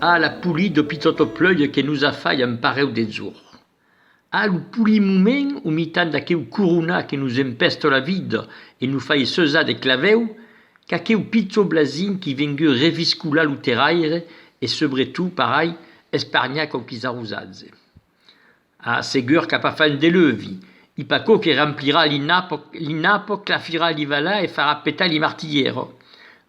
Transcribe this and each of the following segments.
A la poli do pitòto pleuie que nos a fai un parèu de jor. A lo poli moment o mitan d'aqueu coronat que nos empèsto la vida e no fai seusar de clavèu qu'aqueu pichó blasin qui vengueu reviscolar lo terraire e sobre tout parai espargnar quauquis arrosatge. A segur qu'a pas fai un deleuvi. I pas quo que remplirà li napo, li napo, clafirà li valà e farà petar li martillero.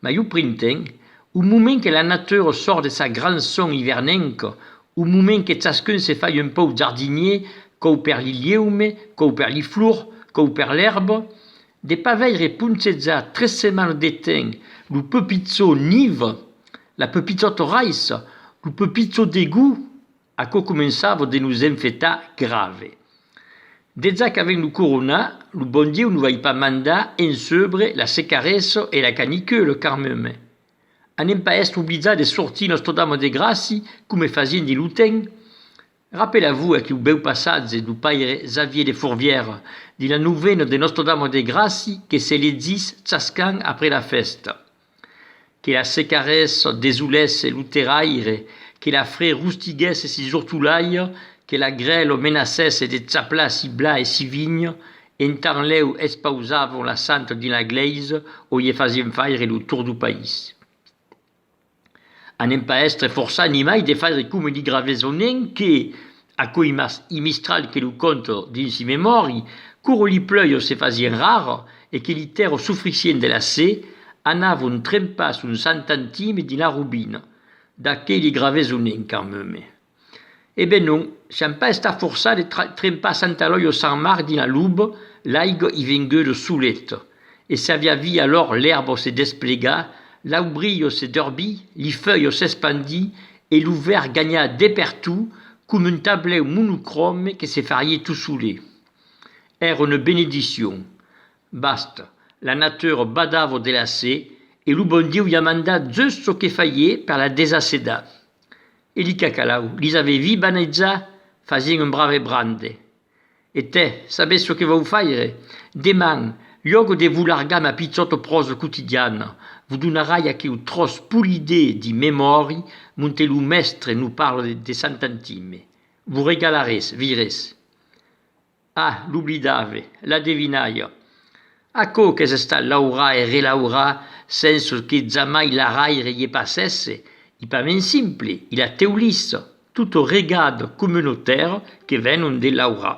Mai o printemp, o moment que la natura sòrt de sa gran son ivernenca, o moment que chascun se fai un pauc jardinier, quò per li lieume, quò per li flor, quò per l'èrba, de pas veire ponchejar tres setmanas de temps lo pepitzo niva, la pepitzotoraissa, lo pepitzo degú, Aquò començava de nos enfetar grave. Dejà qu'avèm lo corona, lo bon Dieu no vai pas mandar en sebre la secaressa e la canicula carmeme. Anem pas èstre oblidzats de sortir Nòstre-Dama de Gràci coma fasien dins lo temps? Rapela-vos aqueu bèu passatge do paire Xavier de Fourvière dins la novena de Nòstre-Dama de Gràci que se legís chascant après la fèsta. Que la secarès desolèsse lo terraire, que la fre rustiguèsse si zortolaire, que la grèl menacèsse de chaplar si bla e si vign, entant lèu expausavon la santa dins la glèisa o ie fasien faire lo tour do país. Anem pas èstre forçat nimai de faire coma li Graveson en que, Aquoi mas i Mistral que lo conte dins i memòri, quoro li plèios se fasien rars e que li tèrro sufrissien de la se, anavon trempar son santantime dins la robina. D'aquei li gravés o nen, Carmeme? E ben non, siam pas estats forçats de trempar Santa Eloia o Sant Marc dins la luba, l'aiga i vengueu lo solet, e s'aviá vi alòr l'èrbo se desplegar, l'aubrilho se derbir, li feuilhos s'espandir e lo verd ganhar de pertú com un tablèu monocròme que se farie tot solé. Èra una benediccion. Basta, la natura badava de l'acé e lo bon Dieu i a mandat just çò que farie per la desacedar. E li cacalau lis avè vi baneitzar fasient un brave brande, E te, sabes çò que vau faire? Deman, lhògo de vos largar ma pichòto pròsa quotidiana, vos donarai aqueu tròç polidé di memòri monte lo mèstre no parla de Sant'Antime. Vos regalarés, viretz. Ah, l'oblidave, la devinalha. Aquò qu'es estat laurar e relaurar sens çò que jamai l'araire ie passèsse, i pas mens simple, i la teulissa, tot o regard comunotèr que venon de laurar.